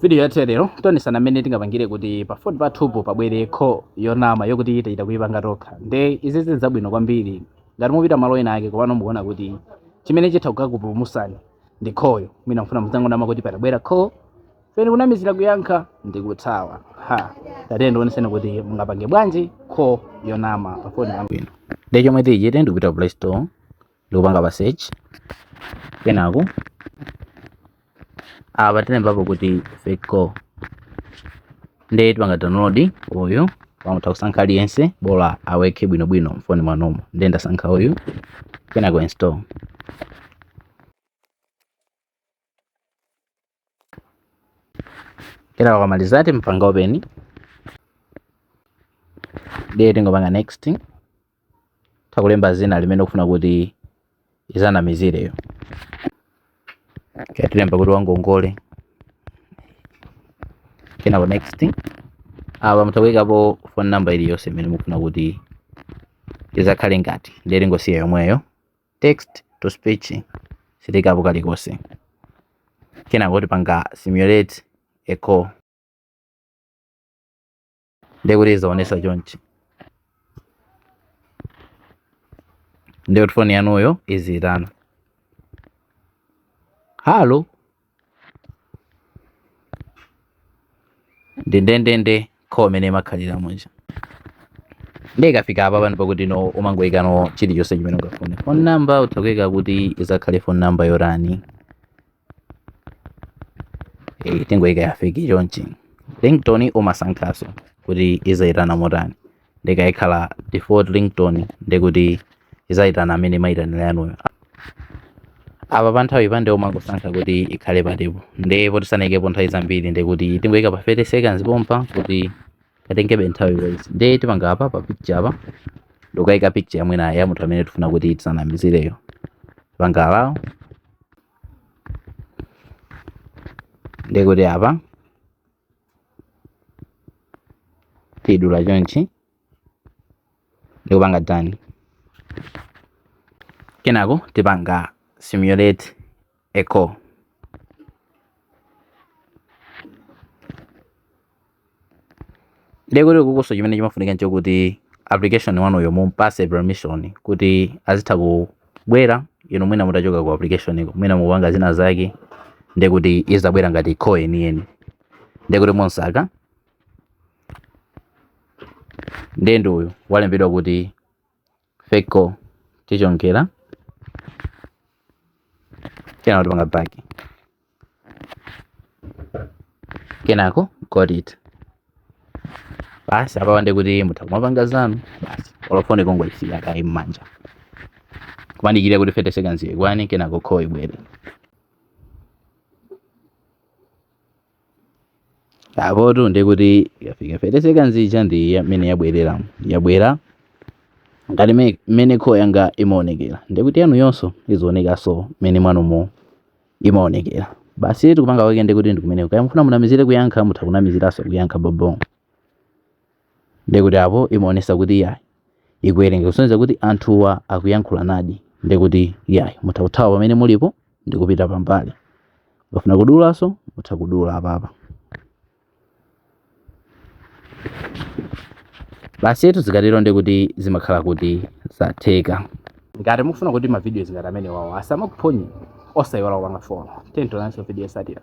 video yathu ya lero tionetsana mmene tingapangire kuti pa foni pathupo pabwere kho yonama yokuti tichita kuipanga tokha nde izi zili zabwino kwambiri ngati mupita malo ena ake komano mukuona kuti chimene chitha kukakupulumusani ndi khoyo mwina mfuna mudzangonama kuti patabwera kho pena kunamizira kuyankha ndi kuthawa a tiyeni ndioneseni kuti mungapange bwanji kho yonama pa foni pabwino ndi chomwe tichite ndikupita play store ndikupanga pa search kenako apa tilembapo kuti fake call nde tipanga download uyu apa mutha kusankha aliyense bola awerke bwinobwino mfoni mwanomo nde ndasankha uyu kenako install kenako akamaliza timpanga open ndiye tingopanga next utha kulemba zina limene ukufuna kuti izanamizireyo tilemba kuti wangongole kenako next apa mutha kuikapo phone number iliyonse imene mukufuna kuti izakhale ngati ndiye tingosiya yomweyo text to speech sitiikapo kalikonse kenako tipanga simulate a call ndiye kuti izaonesa chonchi ndiye kuti foni yanuyo iziyitana halo ndi ndendende kho imene imakhalira muja ndiye ikafika apa pano pakuti no umangoyikano chilichonse chimene ungafune phone number utha kuyika kuti izakhale phone number yotani eh, tingoyika ya fake chonchi ringtone umasankhaso kuti izayitana motani nde ikakhala default ringtone ndekuti izayitana mmene imayitanira yanuyo apa pa nthawi pa nde umangosankha kuti ikhale patipo ndi poti sanayikepo nthawi zambiri ndekuti tingoyika pa 30 seconds pompa kuti itengebe nthawi yes nde tipanga apa pa picture apa ndikukayika picture yamwina ya munthu amene tifuna kuti tizanamizireyo tipanga allow ndekuti apa tidula chonchi ndikupanga done kenako tipanga simulate a call ndekuti kukunso chimene chimafunika nchokuti application wanuyo mumpase permission kuti azitha ku bwera inu mwina mutachoka ku application uko mwina mukupanga zina zake ndiye kuti izabwera ngati kho yeniyeni ndiye kuti mumsaka ndiye ndi uyu walembedwa kuti fake call tichonga kenako tipanga back kenako got it basi apawa ndi kuti mutha kumapanga zanu basi olofone kungoyisiya kaye mmanja kumadikirira kuti 30 seconds ikwane kenako call ibwere apoto ndi kuti yafika 30 seconds ija ndi imene yabwerera yabwera ngati me- mmene call yanga imaonekera ndi kuti yanu yonso izionekanso mmenemo mwanumo imaonekera. Basi tikupanga kake ndi kuti ndikumeneko. Kaya mufuna munamizire kuyankha mutha kunamiziranso kuyankha bobo. Ndi kuti apo imaonesa kuti yayi ikuwerenga kusonyeza kuti anthuwa akuyankhulanadi ndi kuti yayi mutha kuthawa pamene mulipo ndi kupita pambali. Mukafuna kudulanso mutha kudula apapa. basitu zikatero ndi kuti zimakhala kuti zatheka ngati mukufuna kuti mavidiyo ngati amenewawa asamakuphonye osayiwala kupanga follow tiyeni tionanso video yotsatira